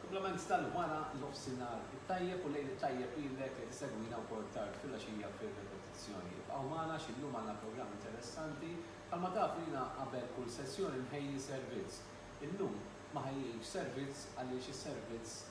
Kumplament tal-wara nofsinhar it-tajjeb u lejl it-tajjeb lilek li qed isegwina wkoll tard filgħaxija fir-repetizzjoni. Ibqgħu magħna għax illum għandna programm interessanti. Bħalma tafu jiena qabel kull sessjoni nħejji servizz. Illum ma ħejjejtx servizz għaliex is-servizz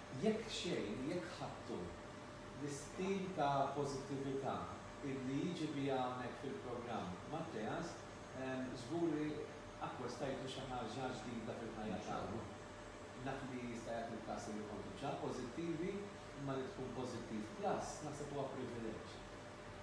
Jekk xejn, jekk ħadtu, l-istil ta' pożittività illi jiġi biha hawnhekk fil-programm Matteas, żgur li akkwestajtu xi ħaġa ġdida fil-ħajja tagħkom. Naf li jista' jagħti l-każ illi kontu ġa pożittivi, imma li tkun pożittiv plus naħseb huwa privileġġ.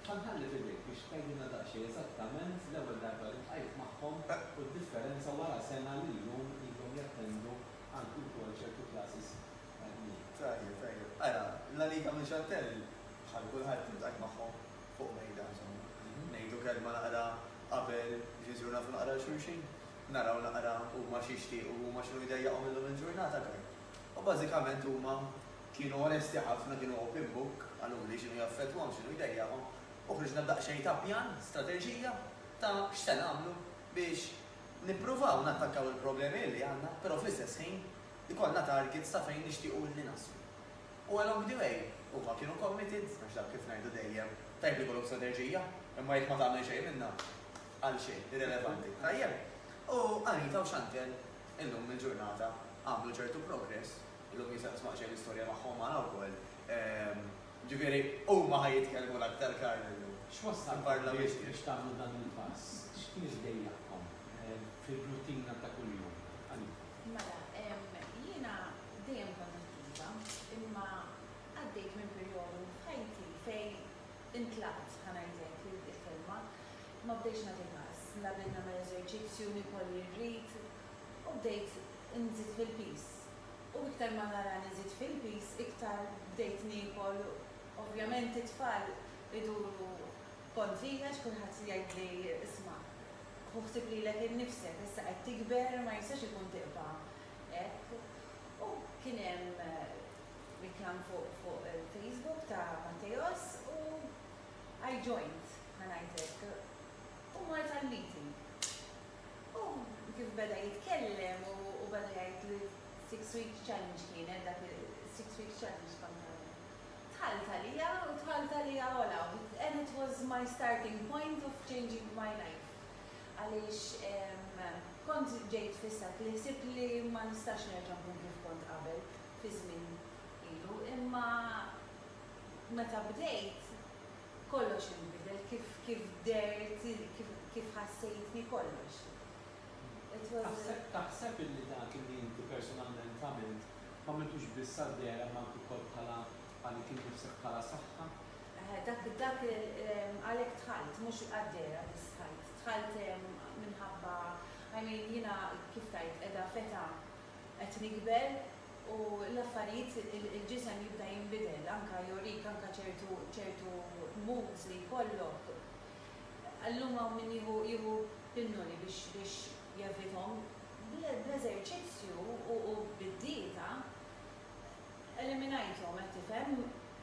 Ħa nħalli f'idejk biex tgħidilna daqsxejn eżattament l-ewwel darba li ltqajt magħhom u d-differenza wara sena li llum ilhom jattendu Għandu wkoll ċertu classes tajbin. Tajjeb, tajjeb. Ara, La Liga minn Chantelle, bħal kulħadd iltqajt magħhom fuq mejda, insomma. Ngħidu kelma naqra qabel Ġesù nagħtu naqra 'l xulxin, naraw naqra huma x'jixtiequ, huma x'inhu jdejjaqhom illum il-ġurnata aktar. U bażikament huma kienu onesti ħafna, kienu open book, qaluli x'inhu jaffettwahom, x'inhu jdejjaqhom, u ħriġna b'daqsxejn ta' pjan, strateġija ta' x'se nagħmlu biex Nippruvaw nattakkaw il-problemi li għandna, però fl-istess ħin ikollna targets ta' fejn nixtiequ li naslu. U along the way, huma kienu committed, għax dak kif ngħidu dejjem, tajjeb li jkollok strateġija, imma jekk ma tagħmel xejn minnha, għal xejn, irrelevanti. Tajjeb? U Anita u Chantelle illum il-ġurnata għamlu ċertu progress, illum jien se nisma' xejn l-istorja tagħhom għada wkoll, Jiġifieri, huma ħa jitkellmu l-aktar, Karl, illum. X'wassalkom biex tagħmlu dan il-pass? X'kien iġdejjaqkom fil-ruttina ta' kuljum? Anita. Mela, jiena dejjem kont attiva, imma għaddejt minn perjodu f'ħajti fejn intlaqt, ħa ngħidlek il-kelma, ma bdejtx nagħti każ. La bdejt nagħmel eżerċizzju, nikol li rrid, u bdejt inżid fil-piż. u iktar ma nara li żidt fil-piż iktar bdejt niekol u ovvjament it-tfal iduru kontrija għax kulħadd jgħidli isma' ħu ħsieb lilek innifsek issa qed tikber ma jistax ikun tibqa' hekk u kien hemm reklam fuq il-Facebook ta' Matteos u I joined ħa ngħid hekk u mort għal meeting. U kif beda jitkellem u beda jgħid li s-six week challenge kienet dak is-six week challenge kont nagħmel. Dħalt għalija u dħalt għalija għola u and it was my starting point of changing my life għaliex kont ġejt fissat li ħsibt li ma nistax nerġa' nkun kif kont qabel fi żmien ilu imma meta bdejt Kollox inbidel, kif kif dehrt, kif kif ħassejtni, kollox. It was a. Taħseb illi dak illi inti personalment għamilt, m'għamiltux biss għad-deher imma anke wkoll bħala għalik innifsek bħala saħħa? Eħe, dak dak għalhekk dħalt, mhux għad-dehra biss dħalt. Dħalt minħabba, I mean, jiena kif tgħid, qiegħda f'età qed nikber. u l-affarijiet il-ġisem jibda jinbidel anke jorik anke ċertu ċertu moods li jkollok. Illum hawn min jieħu jieħu pinnoli biex biex jevithom. Bl-eżerċizzju u u bid-dieta eliminajthom qed tifhem?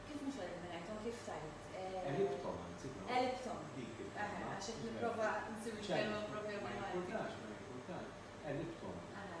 Kif mhux eliminajthom kif tgħid eh. Għelibthom anzi dawn. Għelibthom. Dik il-kelma. Eħe għax qed nipprova nsib il-kelma propja bil-Malti. Ċertu. Ma jimpurtax ma jimpurtax. Għelibthom. Eħe.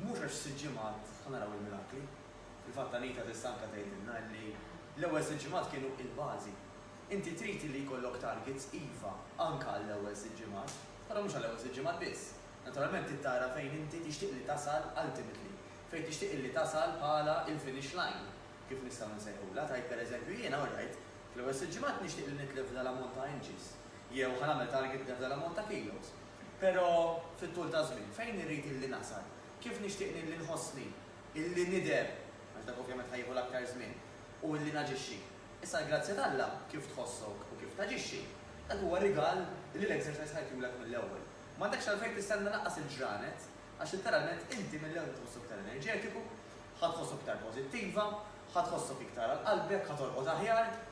Mhux għax f'sitt ġimgħat ħa naraw il-mirakli. Fil-fatt Anita tista' anke tgħidilna illi l-ewwel sitt ġimgħat kienu il-bażi. Inti trid illi jkollok targets, iva, anke għall-ewwel sitt ġimgħat, però mhux għall-ewwel sitt ġimgħat biss. Naturalment trid tara fejn inti tixtieq li tasal ultimately, fejn tixtieq illi tasal bħala il-finish line, kif nistgħu nsejħulha, tgħid per eżempju jiena alright, fl-ewwel sitt ġimgħat nixtieq li nitlef f'dal ammont ta' inches, jew ħa nagħmel target nitlef f'dal ammont ta' kilos. Pero, fit-tul taż-żmien, fejn irrid illi nasal? Kif nixtieq illi nħossni, illi nidher, għax dak ovvjament ħa jieħu l-aktar żmien, u illi naġixxi? Issa l-grazzja t'Alla, kif tħossok u kif taġixxi, dak huwa rigal illi l-Exercise ħa jtulek mill-ewwel. M'għandekx għalfejn tistenna lanqas il-ġranet, għax litteralment inti mill-ewwel ħa tħossok iktar enerġetiku, ħa tħossok iktar pożittiva, ħa tħossok iktar għal qalbek, ħa torqod aħjar,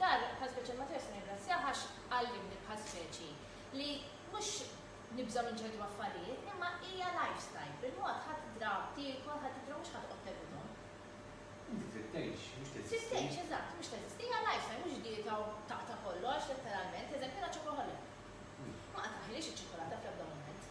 Dar bħal speċi ma tistax tirringrazzjah għax għallimni bħal speċi li mhux nibżgħu minn ċertu affarijiet imma hija lifestyle, bil-mod ħa tidra tiekol, ħa tidra mhux ħa toqgħod tevithom. Inti trid tgħix, mhux teżisti. Trid tgħix, eżatt, mhux teżisti. Hija lifestyle, mhux dieta u taqta' kollox, letteralment. Eżempju jiena chocoholic. Ma qatgħaħilix iċ-ċokolata fl-ebda mument.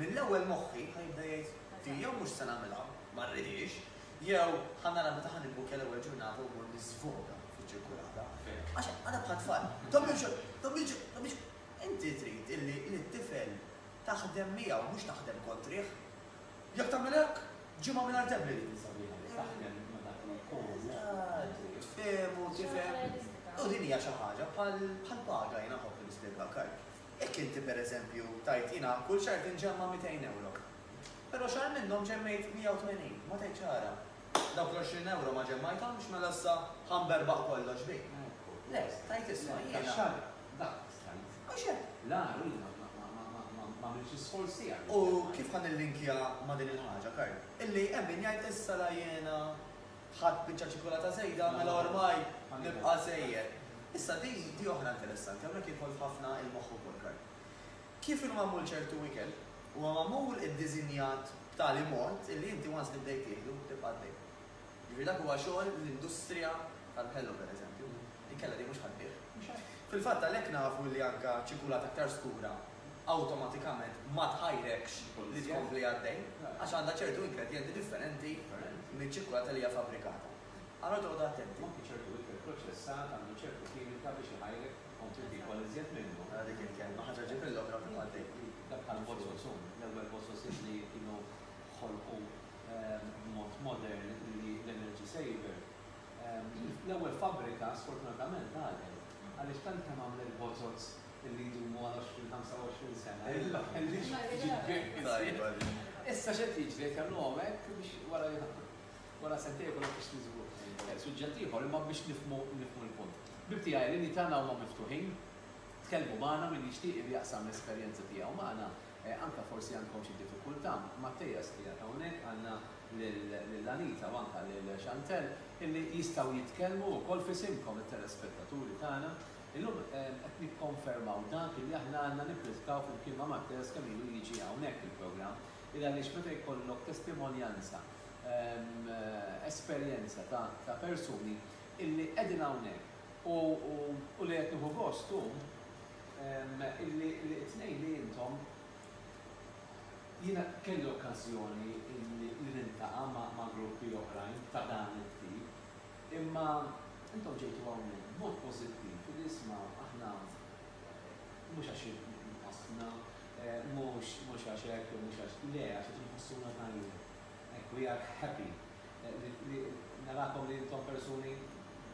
Mill-ewwel moħħi ħa jibda jgħid, Din jew mhux se nagħmilha, ma rridhiex, jew ħa nara meta ħa nibbukkja l-ewwel ġurnata u mmur niżvoga fiċ-ċirkulata. Għax għadha bħat-tfal, Dommiġo! Dommiġo! Dommiġo! Inti trid illi lit-tifel taħdem miegħu mhux taħdem kontrih. Jekk tagħmel hekk, ġimgħa mingħajr debli dik li sabiħa li taħdem ma' dak li jkun. Eżatt, tfehmu, tifhem. U din hija xi ħaġa bħall-paga, jiena nħobb li nispjegha, ok? Jekk inti, per eżempju, tgħid, Jiena kull xahar tinġemma' mitejn ewro. Però xahar minnhom ġemmejt 180, ma tgħidx ara, dawk l-għoxrin ewro ma ġemmajthomx, mela issa ħa nberbaħ kollox bik. Le, tgħid, Isma', jiena. Dak xahar, dak stajt. Mhux hekk? Le, ara, jiena ma għamiltx l-isforz tiegħi. U kif ħa nillinkja ma' din il-ħaġa, Karl, illi hemm min jgħid, Issa la jiena ħadt biċċa ċikulata żejda mela ormai nibqa' żejjed. Issa din di oħra interessanti, hawnhekk jidħol f'ħafna il-moħħ ukoll Karl. Kif inhu magħmul ċertu ikel, huwa magħmul iddiżinjat b'tali mod illi inti once li bdejt tieħdu tibqa' għaddej. Jiġifieri dak huwa xogħol l-industrija tal-ħelu per eżempju, inkella din mhux ħaddbih. Fil-fatt għalhekk nafu li anka ċikulata aktar skura awtomatikament ma tħajrekx li tkompli għaddej għax għandha ċertu ingredjenti differenti miċ-ċikkulata li hija fabbrikata. Allura toqgħodu attenti. Anki ċertu ikel proċessat għandu ċertu kimika biex iħajrek tkompli tiekol iżjed minnu. Ara dik il-kelma, ħaġa ġġib il-logra fuq għaddej. Dak bħall-bozoz hu l-ewwel bozoz li kienu ħolqu b'mod modern li l-energy saver. L-ewwel fabbrika sfortunatament għalqet għaliex tant kemm għamlet bozoz li jdumu għal 20-25 sena. Issa x'qed jiġri qed jagħmluhom hekk biex wara wara sentejn ikun hemm fixti żgur. Eh, suġġett ieħor imma biex nifhmu nifhmu l-punt. Bib tiegħi l-inni tagħna huma miftuħin, tkellmu magħna min jixtieq li jaqsam l-esperjenza tiegħu magħna, eh, anke forsi għandkom xi diffikultà, Mattejas li jgħid hawnhekk għandna lil Anita u anke lil Chantel illi jistgħu jitkellmu wkoll f'isimkom it-telespettaturi tagħna Illum qed nikkonfermaw dak li aħna għandna nippridkaw flimkien ma' Matteos kemm ilu jiġi hawnhekk il-programm, il għaliex meta jkollok testimonjanza, esperjenza ta' persuni illi qegħdin hawnhekk u li qed nieħu gost hu illi t-tnejn li intom, jiena kelli okkażjoni li niltaqa' ma' gruppi oħrajn ta' dan it-tip, Imma intom ġejtu hawnhekk b'mod pożittiv u diżma aħna mhux għax inqasdna, mhux mhux għax hekk jew mhux għax, le għax qed inħossuna tajjeb. Hekk we are happy li narakom li intom persuni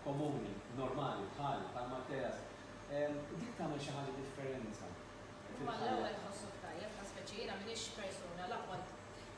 komuni, normali bħali, bħal Matteas. Dik tagħmel xi ħaġa differenza fil-ħajja. Imma l-ewwel tħossok tajjeb, ta' speċi jiena m'iniex persuna l-aqwa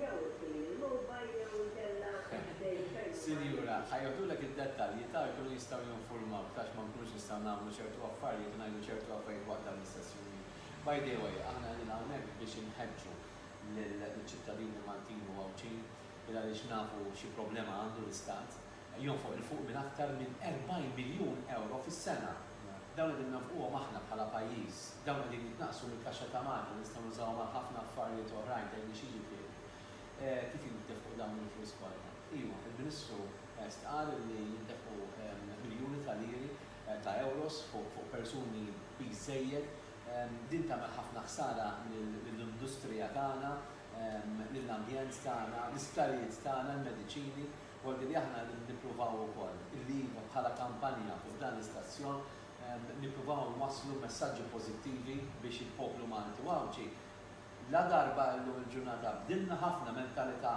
Jew isir il-mogħba jew inkella ħdejn ferm il-baħar. Sinjura, ħa jgħodulek id-dettalji ta' jkunu jistgħu jinfurmawk tax ma nkunux nistgħu nagħmlu ċertu affarjiet u ngħidu ċertu affarijiet waqt dawn l-istess jumien. By the way, aħna qegħdin hawnhekk biex inħeġġu liċ-ċittadini Maltin u Għawdxin il għaliex nafu xi problema għandu l-Istat. jonfoq 'l fuq minn aktar minn 40 miljun ewro fis-sena. Dawn qegħdin nonfquhom aħna bħala pajjiż. Dawn qegħdin jitnaqqsu mill-kaxxa ta' Malta li nistgħu nużawhom għal ħafna affarijiet oħrajn, tgħidli xi jiġifieri? Kif jintefqu dawn il-flus kollha? Iva, il-Ministru stqarr li jintefqu miljuni ta' liri, ta' ewros fuq persuni piż żejjed. Din tagħmel ħafna ħsara lill-industrija tagħna, lill-ambjent tagħna, l-isptarijiet tagħna, l-mediċini. Volti li aħna nippruvaw ukoll li iva bħala kampanja f'dan l-istazzjon nippruvaw inwasslu messaġġi pożittivi biex il-poplu Malti u Għawdxi la darba llum il-ġurnata bdilna ħafna mentalità,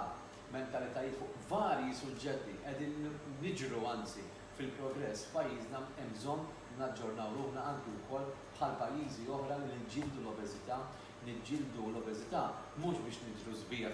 mentalitajiet fuq varji suġġetti qegħdin niġru anzi fil-progress f'pajjiżna hemm bżonn naġġornaw ruħna anki wkoll bħal pajjiżi oħra li niġġieldu l-obeżità, niġġieldu l-obeżità mhux biex nidhru sbieħ,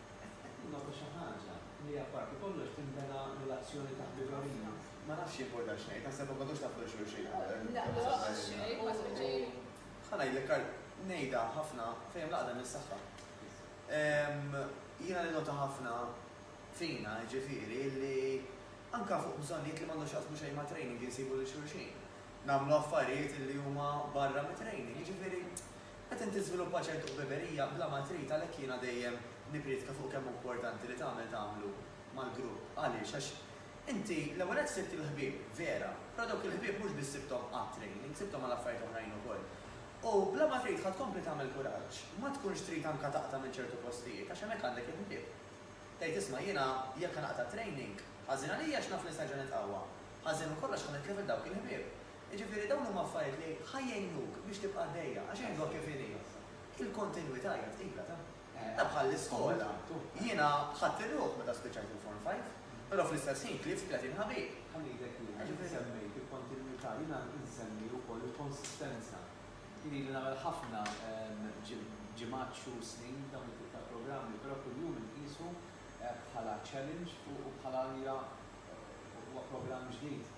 Qed qed tinnota xi ħaġa li apparti kollox tinbena relazzjoni ta' ħbiberija. Ma nafx jimpurta x'ngħid, naħseb ma kontuhx taf lil xulxin qabel. Le, ma nafx xejn, ma smitt xejn. Ħa ngħidlek għal, ngħidha ħafna fejn hemm l-għaqda hemm is-saħħa. Ehm, jiena ninnota ħafna fina, jiġifieri, li anke fuq bżonnijiet li m'għandhom x'jaqsmu xejn ma' training insibu lil xulxin. Nagħmlu affarijiet li huma barra mit-training, jiġifieri Qed inti żviluppa ċertu ħbiberija bla ma trid għalhekk jiena dejjem nipprietka fuq kemm hu importanti li tagħmel tagħmlu mal-grupp. Għaliex? Għax inti l-ewwel nett sibt il-ħbieb vera, però dawk il-ħbieb mhux biss sibthom għat-training, sibthom għal affarijiet oħrajn ukoll. U bla ma trid ħa tkompli tagħmel kuraġġ. Ma tkunx trid anke taqta' minn ċertu postijiet għax hemmhekk għandek il-ħbieb. Tgħid isma' jiena jekk ħa naqta' training, ħażin għalija għax naf li se nerġa' nitqawwa. Ħażin minn kollox ħa nitlef lil dawk il-ħbieb. Jiġifieri dawn huma affarijiet li ħa jgħinuk biex tibqa' għaddejja għax jgħidluha kif inhi, il-kontinwità hija tqila ta'. Hija bħall-iskola. Jiena ħadt ir-ruħ meta spiċċajt il-Form Five, però fl-istess ħin tlift tletin ħabib. Ħallejtek jiena, int semmejt il-kontinwità, jiena insemmi wkoll il-konsistenza. Jien ili nagħmel ħafna ġimgħat, xhur, snin dawn it-tip ta' programmi, però kuljum inqisu bħala challenge u bħala allura huwa programm ġdid.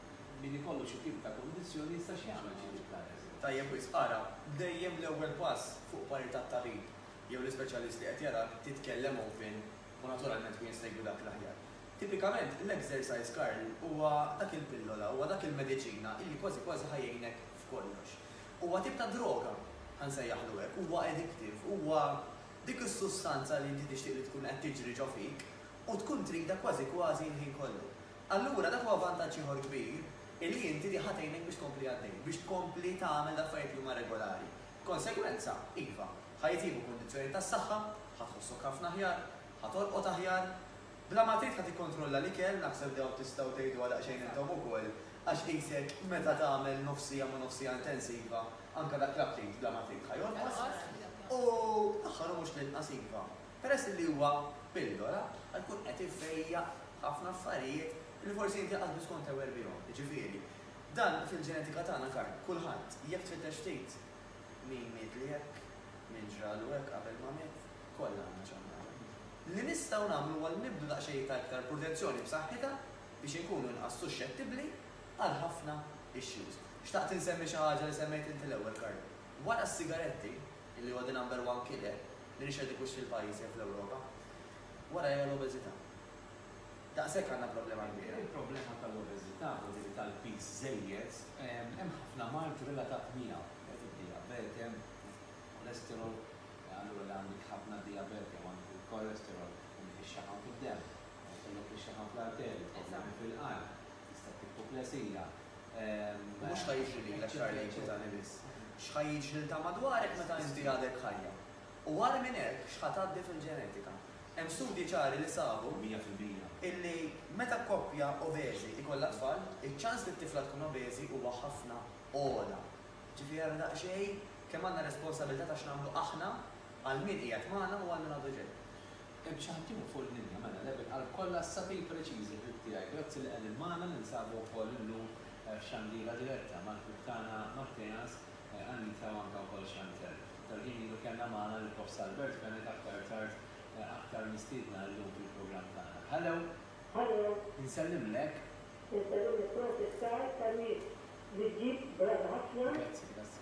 Min ikollu xi tip ta' kundizzjoni jista' x'jagħmel xi jitħares? Tajjeb wisq, ara dejjem l-ewwel pass fuq pari tat-tabib jew l-ispeċjalist li qed jarak titkellem open u naturalment hu jista' jgwi dak l-aħjar. Tipikament l-exercise Karl huwa dak il-pillola, huwa dak il-mediċina illi kważi kważi ħa jgħinek f'kollox. Huwa tip ta' droga, ħa nsejjaħlu hekk, huwa addictive, huwa dik is-sustanza li inti tixtieq li tkun qed tiġri ġo fik u tkun tridha kważi kważi l-ħin kollu. Allura dak huwa vantaġġ ieħor kbir li inti li ħa tgħinek biex tkompli għaddej, biex tkompli tagħmel l-affarijiet li huma regolari. B'konsegwenza, iva, ħa jitjiebu kundizzjonijiet tas-saħħa, ħa tħossok ħafna aħjar, ħa torqod aħjar. Bla ma trid ħa tikkontrolla l-ikel, naħseb dawn tistgħu tgħiduha daqsxejn intom ukoll, għax qisek meta tagħmel nofs siegħa ma' nofs siegħa intensiva, anke dak l-aptit bla ma trid ħa jonqos. U, l-aħħar u mhux l-inqas, iva, Peress illi huwa pillola, qed ikun qed ifejjaq ħafna affarijiet illi forsi inti qatt biss kont aware bihom. Jiġifieri, dan fil-ġenetika tagħna Karl, kulħadd, jekk tfittex ftit, min mietli hekk, min ġralu hekk qabel ma miet, kollha għandna xi ħaġa. Li nistgħu nagħmlu huwa li nibdu daqsxejn ta' iktar purtenzjoni b'saħħitha biex inkunu inqas suxxettibbli għal ħafna issues. Xtaqt insemmi xi ħaġa li semmejt inti l-ewwel Karl. Wara s-sigaretti, li huwa the number one killer, li nixhed ikux fil-pajjiż jew fl-Ewropa, warajha l-obeżità. Daqshekk għandna problema kbira. Il-problema tal-obeżità, ġifieri tal-piż żejjed, hemm ħafna mard relatat miegħu. Wieħed id-dijabete, hemm cholesterol, allura li għandek ħafna dijabete jew għandek il-cholesterol, għandek ix-xaħam fid-demm, jkollok ix-xaħam fl-arterji, problemi fil-qalb, tista' ttieħu plesija. Mhux ħa jiġri lilek xahar lejn ċitani biss. X'ħa jiġrilta madwarek meta inti għadek ħajja. U agħar minn hekk x'ħa tgħaddi fil-ġenetika. Hemm studji ċari li sabu illi meta koppja obeżi jkollha tfal, iċ-ċans li t-tifla tkun obeżi huwa ħafna ogħla. Ġifieri ara daqsxejn kemm għandna responsabilità ta' x'nagħmlu aħna għal min qiegħed magħna u għal min għadu ġej. Hemm xi ħaddieħor fuq il-linja? Mela, le bil-qalb kollha, issa fil preċiż, il-ħbib tiegħi. Grazzi li qegħdin magħna, ninsabu wkoll illum f'xandira diretta mal-ħbib tagħna Matteas, Anita u anke wkoll Chantel. Ftit ħin ilu kellna magħna lill-Prof Salbert Fenech aktar tard aktar mistiedna illum fil-programm tagħna. Hello! Hello! Insellimlek! Insellem l-ipproċessar tan-nies li ġġib brata ħafna. Grazzi, grazzi.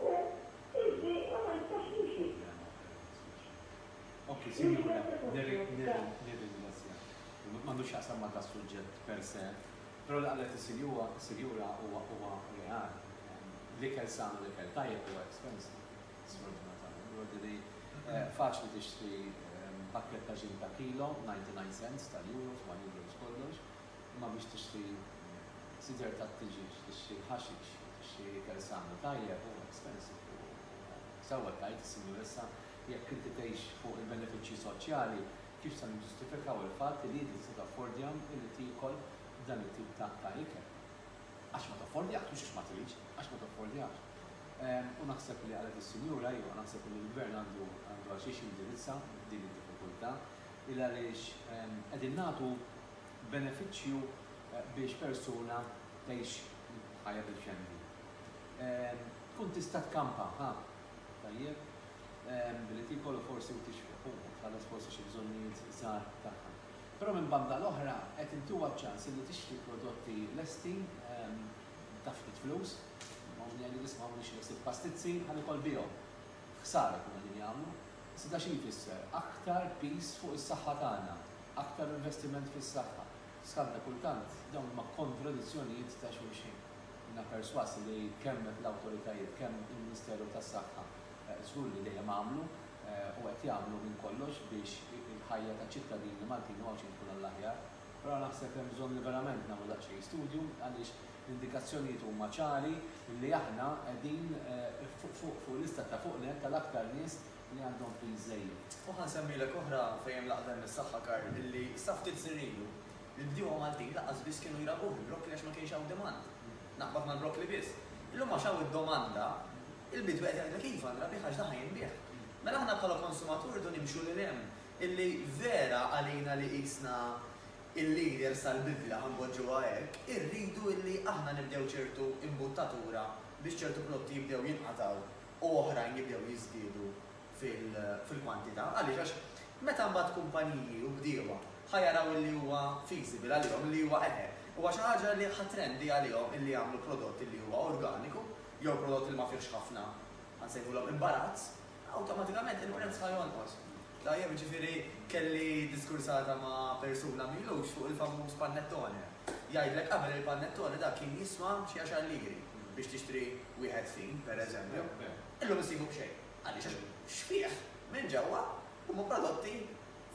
U inti ma tantx timxi. Le, ma fehimtx, ma x'inti. Okej, sinjura, nirringrazzjak. M'għandu x'jaqsam ma' das-suġġett per se, però li qalet is-sinjura huwa reali. L-ikel san u l-ikel tajjeb huwa expensive, sfortunatament. B'ordini, faċli tixtri pakkett ta' ġin ta' kilo, 99 cents tal-euros, 1 euros kollox, imma biex tixtri sider tat-tiġieġ, tixtri l-ħaxix, Tixtri ikel san u tajjeb u expensive u sewwa tgħid is-Sinjura issa jekk inti tgħix fuq il-benefiċċji soċjali kif se niġġustifikaw il-fatt li inti tista' taffordjahom billi tiekol dan it-tip ta' ta' ikel. Għax ma taffordjahx mhux għax ma tridx, għax ma taffordjahx. U naħseb li qalet is-Sinjura iva naħseb li l-Gvern għandu għandu għal xiex jindirizza din id-diffikultà il għaliex qegħdin nagħtu benefiċċju biex persuna tgħix Ħajja deċenti. Tkun tista' tkampa, ha? Tajjeb. Billi tiekol u forsi u tixrob, u tħallas forsi xi bżonnijiet żgħar tagħha. Però minn banda l-oħra qed intuha ċ-ċans illi tixtri prodotti lesti ta' ftit flus. Ommi għidet isma' hawn nixtri ftit pastizzi ħa niekol bihom. Ħsara jkunu qegħdin jagħmlu. Iżda xi jfisser? Aktar piż fuq is-saħħa tagħna. Aktar investiment fis-saħħa. Skandli kultant dawn huma kontradizzjonijiet ta' xulxin. Jiena persważ li kemm l-awtoritajiet, kemm il-Ministeru tas-Saħħa żgur li dejjem għamlu u qed jagħmlu minn kollox biex il-ħajja taċ-ċittadini Maltin u Għawdxin tkun għall-aħjar. Però naħseb hemm bżonn li verament nagħmlu daqsxejn studju għaliex l-indikazzjonijiet huma ċari li aħna qegħdin fuq fuq fuq lista ta' fuq nett tal-aktar nies li għandhom pin żejjed. U ħa nsemmilek oħra fejn hemm l-aqda hemm is-saħħa Karl illi sa ftit snin ilu l-bdiewa Maltin lanqas biss kienu jrabuh il-broccoli għax ma kienx hawn demand. Naqbad mal-broccoli biss. Illum għax hawn id-domanda, il-bidwi qed jgħidlek iva nrabih għax daħal jinbiegħ. Mela aħna bħala konsumaturi rridu nimxu lil hemm illi vera għalina li qisna il-leaders tal-bidla ħa npoġġuha hekk, irridu illi aħna nibdew ċertu imbuttatura biex ċertu prodotti jibdew jinqatgħu. u oħrajn jibdew jiżdiedu fil-kwantità. Għaliex? Għax meta mbagħad kumpaniji u bdiewa ħa jaraw illi huwa feasible għalihom, illi huwa eħe, huwa xi ħaġa li ħa trendy għalihom illi jagħmlu prodott illi huwa organiku jew prodott li ma fihx ħafna, ħa nsejħulhom imbarazz, awtomatikament il-prezz ħa jonqos. Tajjeb, jiġifieri kelli diskursata ma' persuna m'ilux fuq il-famuż panettone. Jgħidlek qabel il-panettone dak kien jiswa xi għaxar liri. biex tixtri wieħed fin, per eżempju, illum issibu b'xejn. Għaliex? Għax xbieħ minn ġewwa huma prodotti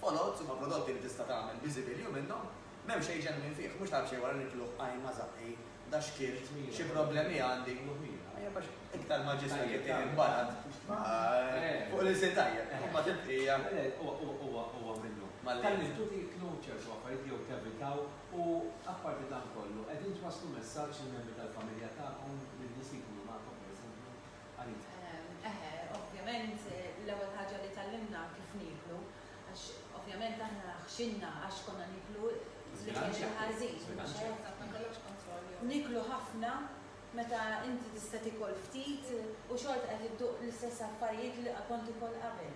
foloz, huma prodotti li tista' tagħmel biżibilju minnhom. M'hemm xejn ġenwin fih, mhux tagħraf xejn wara nikluh, qajma, żaqqi, da xkiel, xi problemi għandi. Tajjeb għax iktar ma ġismek jitqiegħed imbarad fuq l-ilsien tajjeb, imbagħad il-bqija. Huwa minnu. Tallimtu tieklu ċertu affarijiet jew tevitaw U apparti dan kollu, qegħdin twasslu messaġġ lill-membri tal-familja tagħkom li nies li jkunu magħkom, pereżempju, għalihom? Eħe, ovvjament, l-ewwel ħaġa li tgħallimna kif nieklu, għax ovvjament aħna ħxinna għax konna niklu l-ikel il-ħażin, mhux hekk? Niklu ħafna meta inti tista' tiekol ftit u xorta qed idduq l-istess affarijiet li kont tikol qabel.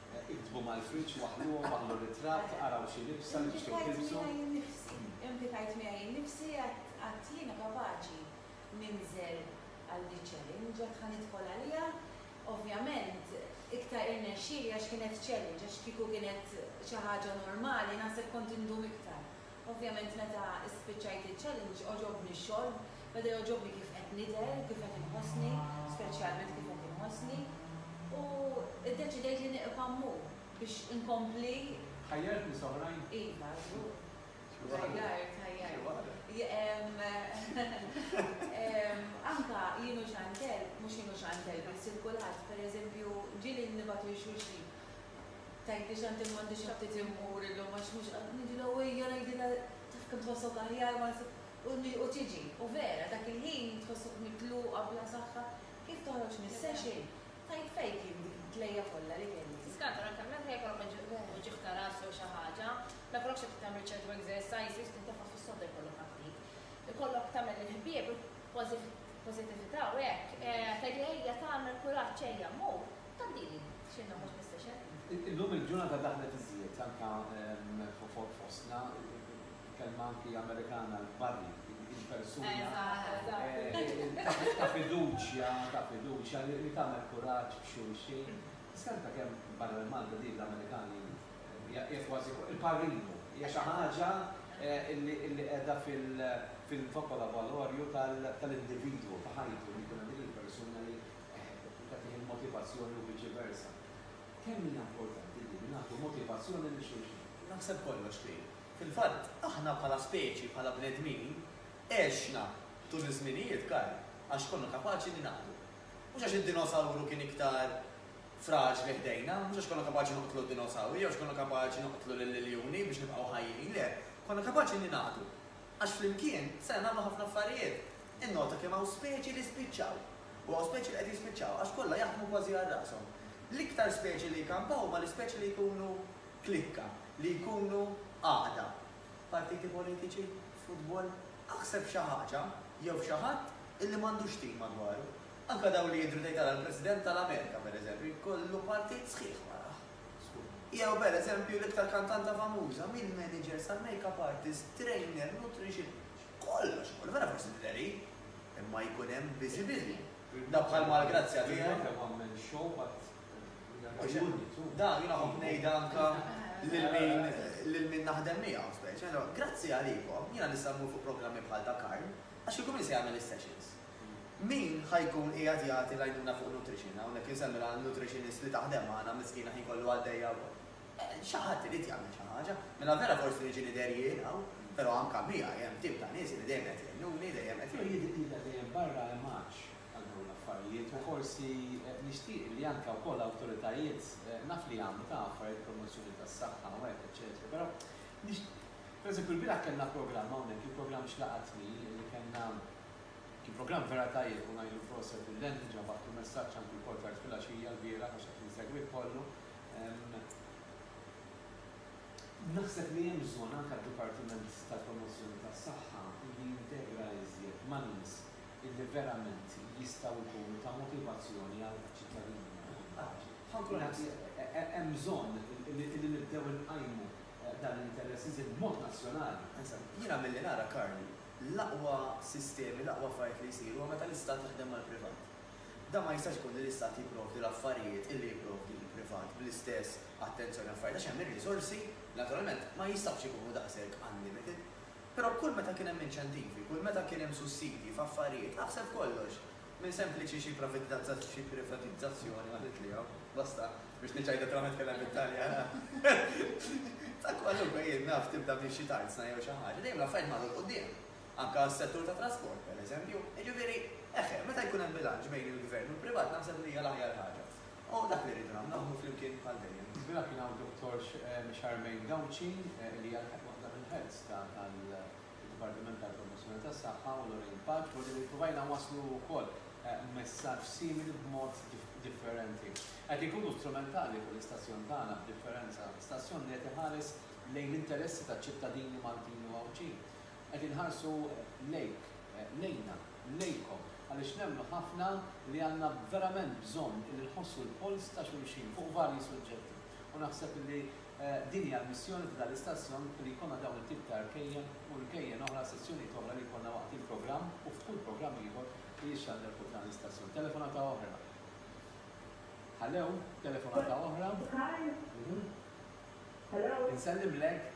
Iktbu mal-friġġ, waħħluhom, waħħlu ritratt, araw xi libsa li tixtiequ tilbsu. Implikajt miegħi nnifsi, għadt jiena kapaċi ninżel għal di ċ-challenge, għadt ħa nidħol għaliha. Ovvjament iktar irnexxieli għax kienet challenge, għax kieku kienet xi ħaġa normali naħseb kont indum iktar. Ovvjament meta spiċċajt iċ-challenge għoġobni x-xogħol, beda jogħġobni kif qed nidher, kif qed inħossni, speċjalment kif qed inħossni, u ddeċidejt li nieqfa' mmur biex inkompli. Ħajjart nies oħrajn? Iva, żgur. Xi waħda. Ħajjart, ħajjart. Xi waħda. Anke jien u Chantelle, mhux jien u Chantelle biss, il-kulħadd, pereżempju, ġieli nibgħatu lil xulxin. Tgħidli x'għandi u m'għandix ftit immur illum għax mhux qad niġilha u hija ngħidilha taf kemm tħossok aħjar ma u u tiġi. U vera, dak il-ħin tħossok mitluqa bla saħħa, kif toħroġ mis-session, tajt fejk jien dik il-tlejja kollha li kelli. Tiskanta l-anka meta anke jekk ikollok uġigħ ta' ras jew xi ħaġa, ma jkollokx ftit tagħmel ċertu exercises, tintefa' fis-sodda jkollok ha ftit. Ikollok tagħmel il-ħbieb, il-pożittività u hekk, tgħidilha ejja tagħmel kuraġġ ejja mmur. Tgħaddili xi ħaġa mhux mis-session? Illum il-ġurnata daħlet iżjed anke fostna il-kelma anki Amerikana l-buddy, il-persuna ta' fiduċja, ta' fiduċja li tagħmel kuraġġ b'xulxin. Tiskanka kemm barra l-Malta din l-Amerikani hija kważi il-parinu, hija xi ħaġa li qiegħda fil-vocolabolorju tal-individwu, ta' ħajtu li jkun hemm dik il-persuna li Hekk tkun tagħtih il-motivazzjoni u viċi versa. Kemm hija importanti din li nagħtu motivazzjoni lil xulxin! Naħseb kollox kien. Fil-fatt, aħna bħala speċi, bħala bnedmin, għexna tul iż-żminijiet, Karl, għax konna kapaċi ningħaqdu. Mhux għax id-dinosawru kien iktar fraġli ħdejna, mhux għax konna kapaċi noqtlu d-dinosawri jew għax konna kapaċi noqtlu lill-iljuni biex nibqgħu ħajjin, le, konna kapaċi ningħaqdu għax flimkien stajna nagħmlu ħafna affarijiet. Innota kemm hawn speċi li spiċċaw. U hawn speċi li qed jispiċċaw għax kollha jaħdmu kważi għal rashom. L-iktar speċi li jkampaw huma l-ispeċi li jkunu klikka, li jkunu għaqda. Partiti politiċi? Futbol? Aħseb xi ħaġa jew xi ħadd illi m'għandux tim madwaru. Anke dawk li jidhru tgħid ara l-President tal-Amerika pereżempju jkollu partit sħiħ warajh. Jew pereżempju l-iktar kantanta famuża, mill-managers sal-makeup artist, trainer, nutritionist. Kollox ikun hemm, ara forsi tidheri, imma jkun hemm viżibilli. Da bħal mal-grazzja tiegħi. Da jiena nħobb ngħidha anke lil min lil min naħdem miegħu speċi. Ngħidlu, grazzi għalikom jiena nista' mmur fuq programmi bħal ta' Karl għax kieku min se jagħmel is-sessions? Min ħa jkun qiegħed jagħti l-għajnuna fuq nutrition, hawnhekk insemmilha nutritionist li taħdem magħna miskina ħin kollu għaddejja wkoll. Xi ħadd irid jagħmel xi ħaġa. Mela vera forsi niġi nidher jien hawn, però anke miegħi hemm tim ta' nies li dejjem qed jgħinuni, dejjem qed. Però jidher li dejjem barra hemm għatx għal dawn l-affarijiet u forsi nixtieq li anke wkoll awtoritajiet, naf li jagħmlu ta' affarijiet promozzjoni tas-saħħa u hekk eċċetera, però per eżempju lbieraħ kellna programm hawnhekk, kien programm Xlaqatni li kellna, kien programm vera tajjeb u ngħidlu proset lil Andy ġabad u messaġġ anke wkoll tard filgħaxija lbieraħ għax qed insegwih kollu, Naħseb li hemm bżonn anke għad-Dipartiment tal-Promozzjoni tas-Saħħa li jintegra iżjed ma' nies illi verament jistgħu jkunu ta' motivazzjoni għaċ-ċittadini malti. Naħseb hemm bżonn illi nibdew inqajmu dan l-interess iżjed b'mod nazzjonali. Insomma, jiena milli nara, Karl, l-aqwa sistemi, l-aqwa affarijiet li jsiru huwa meta l-Istat jaħdem mal-privat. Dan ma jistax ikun li l-Istat jipprovdi l-affarijiet illi jipprovdi l-privat bl-istess attenzjoni u affarijiet għax hemm ir-riżorsi li naturalment ma jistgħux ikunu daqshekk unlimited. Però kull meta kien hemm inċentivi, kull meta kien hemm sussidji f'affarijiet, aħseb f'kollox, minn sempliċi xi xi privatizzazzjoni ma trid li hawn, basta, biex niċċajt aktar ma nitkellem bit-Taljan, ta' kwalunkwe, jien naf, tibda minn xi tarzna jew xi ħaġa, dejjem l-affarijiet marru 'l quddiem. Anke għas-settur tat-trasport, pereżempju. Jiġifieri, eħe, meta jkun hemm bilanċ bejn il-gvern u l-privat naħseb li hija l-aħjar ħaġa. U dak li rridu nagħmlu, naħdmu flimkien bħal dejjem. Żgur kien hawn Dottor Charmaine Gauci li hija waħda mill-heads tad-Dipartiment għall-Promozzjoni tas-Saħħa u Lorraine Paġ, forsi li ppruvajna nwasslu wkoll messaġġ simili b'mod differenti. Qed inkunu strumentali fuq l-istazzjon tagħna b'differenza, stazzjon li qed iħares lejn l-interessi taċ-ċittadini Maltin u Għawdxin. Qed inħarsu lejk, lejna, lejkom, għaliex nemmnu ħafna li għandna verament bżonn illi nħossu l-polz ta' xulxin fuq varji suġġetti. U naħseb illi din hija l-missjoni ta' dan l-istazzjon li jkollna dawn it-tip ta' rkejjen u rkejjen oħra, sessjonijiet oħra li jkollna waqt il-programm u f'kull programm ieħor li jixxandar fuq dan l-istazzjon. Telefonata oħra. Hallo? Telefonata oħra? Hi. Insellimlek.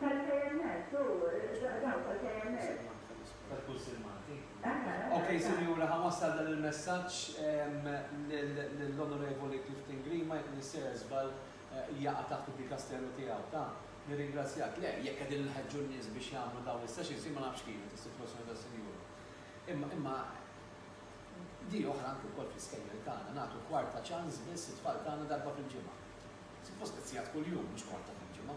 Tal-KMS, u dawk tal-KMS. Tal-Kunsill Malti. Ok, Sinjura, ħa nwassal dan il-messaġġ lill-Onorevoli Clifton Grima, jekk m'iniex sejjer żball, jaqa' taħt id-dikasteru tiegħu ta'. Nirringrazzjak. Le, jekk qegħdin inħeġġu n-nies biex jagħmlu dawn is-sessions, jien ma nafx kienet is-sitwazzjoni tas-Sinjura. Imma, imma, di oħra anki wkoll fl-iskejjel tagħna, nagħtu kwarta ċans biss lit-tfal tagħna darba fil-ġimgħa. Suppost qed sigħat kuljum, mhux kwarta fil-ġimgħa.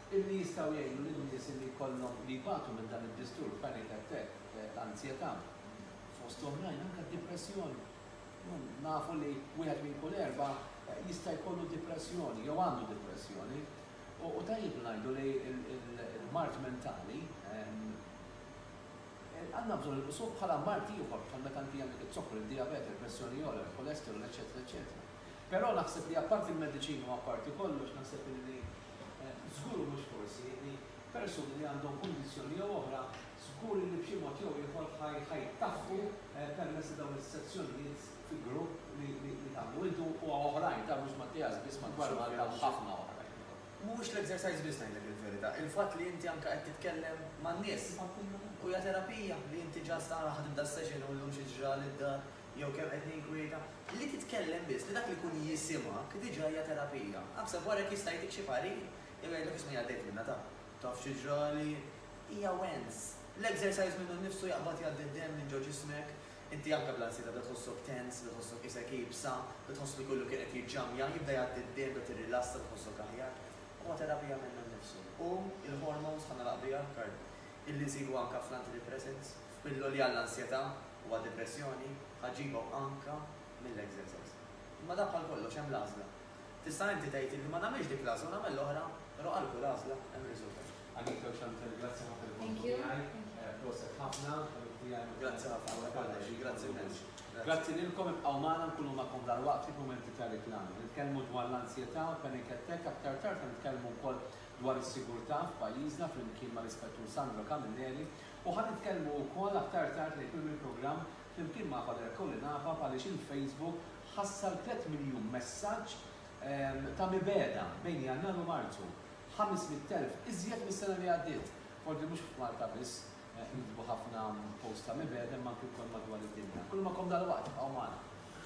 illi jistgħu jgħinu lin-nies li jkollhom li jbatu minn dan id-disturb panic attack ta' anzjetà, fost oħrajn anke d-dipressjoni. Nafu li wieħed minn kull erbgħa jista' jkollu dipressjoni jew għandu dipressjoni u tajjeb li ngħidu li l-mard mentali għandna bżonn inqisuh bħala mard ieħor bħal meta inti għandek iz-zokkor, id-dijabete, il-pressjoni ogħla, il-kolesterol, eċċetera eċċetera. Però naħseb li apparti l-mediċini u apparti kollox naħseb illi Żgur u mhux forsi li persuni li għandhom kundizzjoni jew oħra żgur illi b'xi mod jew ieħor ħa jtaħħu permezz ta' dawn is-sezzjonijiet fi grupp li tagħmlu intu u hawn oħrajn ta' mhux Mattias biss madwar Malta hawn ħafna oħrajn. Mhuwiex l-exercise biss ngħidlek il-verità, il-fatt li inti anke qed titkellem man-nies. Hija terapija li inti just ara ħadimt das-session u llum xi ġrali d-dar. Jew kemm qed ninkwieta? Li titkellem biss, li dak li jkun jisimgħek diġà hija terapija. Aħseb wara jekk jista' jagħtik xi parir jew jgħidlek isma' jien għaddejt minnha ta'. Taf xi ġrali? Hija wens. L-exercise minnu nnifsu jaqbad jgħaddi d-demm minn ġo ġismek. Inti anke bl-ansjetà bda tħossok tense, bda tħossok qisek iebsa, bda tħoss li kollu kien qed jiġġammja, jibda jgħaddi d-demm, tibda tirrilassa, tħossok aħjar. Huwa terapija minnu nnifsu. U l-hormones bħal nagħlaq biha, Karl, illi nsibu anka fl-antidepressants, f'pilloli għall-ansjetà u għad-depressjoni, ħa ġġibhom anka mill-exercise. Imma dan bħal kollox, hemm l-għażla. Tista' inti tgħid illi ma nagħmilx dik l-għażla u nagħmel l-oħra, però għal kull għażla hemm riżultat. Anita u Chantal grazzi ħafna li kontu miegħi, proset ħafna, ħabib tiegħi. Grazzi ħafna, u lek għalnejn, grazzi immens. Grazzi lilkom, ibqgħu magħna nkunu magħkom dalwaqt fi mumenti ta' riklami. Nitkellmu dwar l-ansjetà, panic attack, aktar tard ħa nitkellmu wkoll dwar is-sigurtà f'pajjiżna flimkien mal-Ispettur Sandro Camilleri u ħa nitkellmu wkoll aktar tard lejl tmiem il-programm flimkien ma' Father Colin Afaf għaliex il-Facebook ħassar tliet miljun messaġġ ta' mibegħda bejn Jannar u Marzu, ħames mitt elf iżjed mis-sena li għaddiet. Forsi mhux f'Malta biss inkitbu ħafna posts ta' mibegħda imma anki wkoll madwar id-dinja. Kull magħkom dalwaqt, ibqgħu magħna.